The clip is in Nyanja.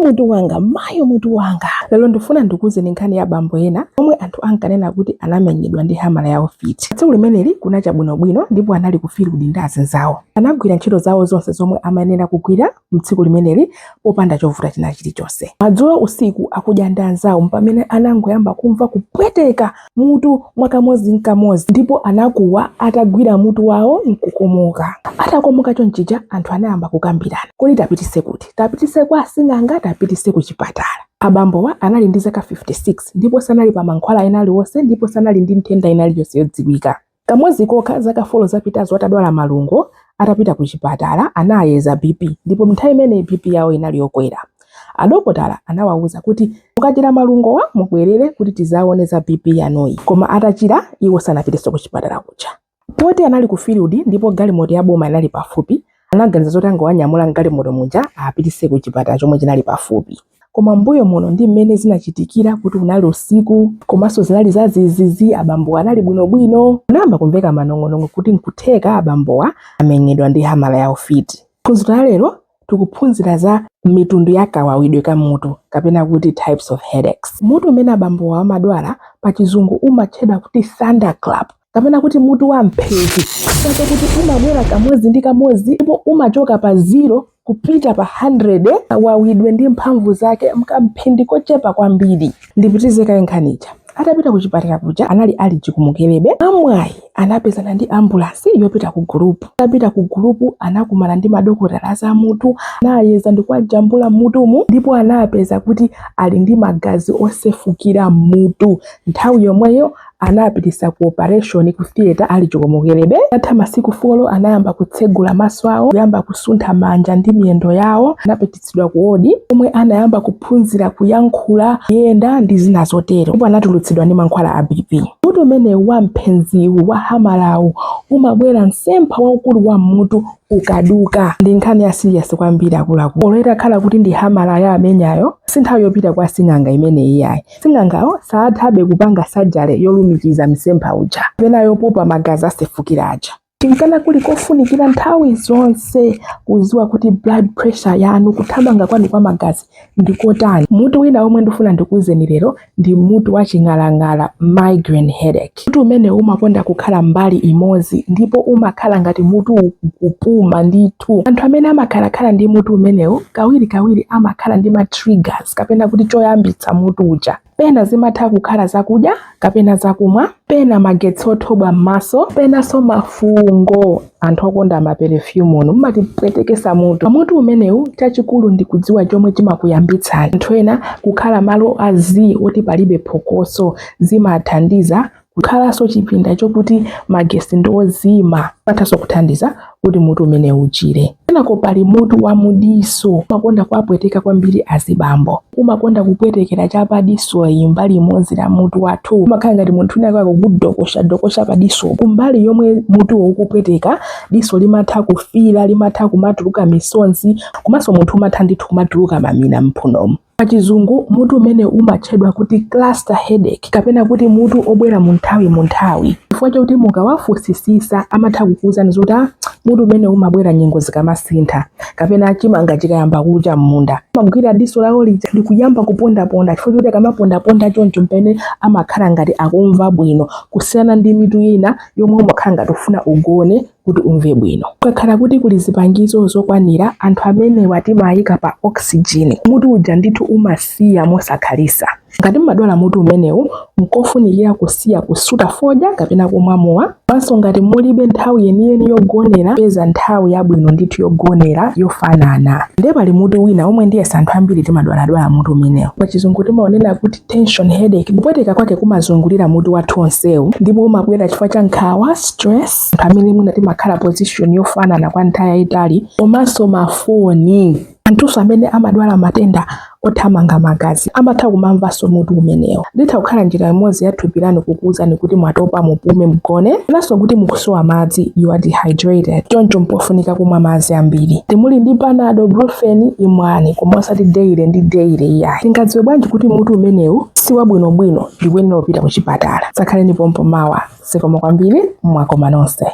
mutu wanga mayo mutu wanga lero ndifuna ndikuuzeni nkhani ya bambo ena omwe anthu ankanena kuti anamenyedwa ndi hamala ya ufiti tsiku limeneli kunacha bwinobwino ndipo anali kufiludi ndi anzawo anagwira ntchito zawo zonse zomwe amayenera kugwira mtsiku limeneli popanda chovuta china chilichonse madzulo usiku akudya ndi anzawo mpamene anangoyamba kumva kupweteka mutu mwakamodzi nkamodzi ndipo anakuwa atagwira mutu wawo nkukomoka atakomoka chonchija anthu anayamba kukambirana kodi tiwapititse kuti tiwapititse kwa asing'anga tiwapititse ku chipatala abambowa anali ndi zaka 56 ndipo sanali pa mankhwala ena alionse ndipo sanali ndi nthenda ina iliyonse yodziwika Kamodzi kokha zaka 4 zapitazo atadwala malungo, atapita kuchipatala anawayeza BP ndipo m'nthawi imeneyi BP yawo inali yokwera. Adokotala anawauza kuti, Mukachira malungowa mubwerere kuti tidzaone za BP yanuyi. Koma atachira, iwo sanapitenso kuchipatala kuja. Poti anali kufiludi ndipo galimoto ya boma inali pafupi, Anaganiza zoti angowanyamula m'galimoto muja awapititse kuchipatala chomwe chinali pafupi. Koma m'mbuyo muno ndi mmene zinachitikira kuti unali usiku komanso zinali zadzidzidzi, abambowa anali bwinobwino. Kunayamba kumveka manong'onong'o kuti n'kutheka abambowa amenyedwa ndi hamala ya ufiti. M'phunziro la lero tikuphunzira za mitundu ya kawawidwe ka mutu kapena kuti types of headaches. Mutu umene abambowa amadwala pachizungu umatchedwa kuti thunderclap. kapena kuti mutu wa mphezi chifukwa chakuti umabwera kamodzi ndi kamodzi ndipo umachoka pa ziro kupita pa 100 kawawidwe ndi mphamvu zake mkamphindi kochepa kwambiri ndipitize kaye nkhani ija atapita ku chipatala kuja anali ali chikomokerebe mwamwayi anapezana ndi ambulansi yopita ku Gulupu atapita ku Gulupu anakumana ndi madokotala azamutu anawayeza ndikuwajambula mutumu ndipo anawapeza kuti ali ndi magazi osefukira mmutu nthawi yomweyo anawapititsa ku operation ku theater ali chikomokerebe atha masiku folo anayamba kutsegula maso awo kuyamba kusuntha manja ndi miyendo yawo anapititsidwa ku wodi komwe anayamba kuphunzira kuyankhula kuyenda ndi zina zotero ndipo anatulutsidwa ndi mankhwala a bp mutu umenewu wa mpheziwu wa hamalawu umabwera mtsempha waukulu wa mmutu ukaduka ndi nkhani ya siriyasi kwambiri akuluakulu olo itakhala kuti ndi hamala yaamenyayo si nthawi yopita kwa asing'anga imeneyi yayi Sing'angawo sathabe kupanga sajare yolumikiza mtsempha uja kapena yopopa magazi asefukira aja. N'chifukwa kuli kofunikira nthawi zonse kudziwa kuti blood pressure yanu, kuthamanga kwanu kwa magazi, ndi kotani, mutu wina womwe ndifuna ndikuuzeni lero ndi mutu wa ching'alang'ala, migraine headache. Mutu umenewu umakonda kukhala mbali imodzi ndipo umakhala ngati mutu ukupuma ndithu. Anthu amene amakhalakhala ndi mutu umenewu kawirikawiri amakhala ndi ma triggers kapena kuti choyambitsa mutu uja. Pena zimatha kukhala zakudya kapena zakumwa, pena magetsi othobwa m'maso, penanso mafungo. Anthu okonda ma perfume inu mumatipwetekesa mutu a mutu umenewu chachikulu ndi kudziwa chomwe chimakuyambitsani anthu ena kukhala malo a zii oti palibe phokoso zimathandiza kukhalanso chipinda chokuti magesi ndi ozima zimathanso kuthandiza kuti mutu umenewu uchire kenako pali mutu wa mudiso umakonda kuwapweteka kwambiri azibambo umakonda kupwetekera cha pa disoyi mbali imodzi la mutu wathu umakhala ngati munthu wina wake akudokosha dokosha pa diso kumbali yomwe mutuwo ukupweteka diso limatha kufiira limatha kumatuluka misonzi komanso munthu umatha ndithu kumatuluka mamina mphunomo pachizungu mutu umenewu umatchedwa kuti cluster headache kapena kuti mutu obwera mu nthawi mu nthawi chifukwa chakuti mukawafunsisisa amatha kukuwuzani zoti ah, mutu umenewu umabwera nyengo zikamasintha kapena chimanga chikayamba kucha m'munda amagwira diso lawo lija ndikuyamba kupondaponda chifukwa choti akamapondaponda choncho mpene amakhala ngati akumva bwino kusiyana ndi mitu ina yomwe umakhala ngati ufuna ugone kuti umve bwino kukakhala kuti kuli zipangizo zokwanira anthu amenewa timayika pa oxygen mutu uja ndithu umasiya mosakhalisa Ngati mumadwala mutu umenewu, nkofunikira kusiya kusuta fodya kapena kumwa mowa. Komanso ngati mulibe nthawi yeniyeni yogonera, pezani nthawi yabwino ndithu yogonera yofanana. Ndiye pali mutu wina womwe ndiyetsa anthu ambiri timadwaladwala mutu umenewu. Pachizungu timaunena kuti tension headache. Kupweteka kwake kumazungulira mutu wathu wonsewu ndipo umabwera chifukwa cha nkhawa, stress, anthu amene mwina timakhala position yofanana kwa nthawi yayitali komanso mafoni. Anthunso amene amadwala matenda othamanga magazi amatha kumamvanso mutu umenewu. Litha kukhala njira imodzi ya thupi lanu kukuwuzani kuti mwatopa, mupume, mugone, komanso kuti mukusowa madzi, you are dehydrated. Choncho mpofunika kumwa madzi ambiri. Ngati muli ndi panado, brufen, imwani, koma osati daily ndi daily iyayi. Tingadziwe bwanji kuti mutu umenewu si wabwinobwino ndi kuyenera kupita kuchipatala? Dzakhaleni pompo mawa. Zikomo kwambiri, mwakoma nonse.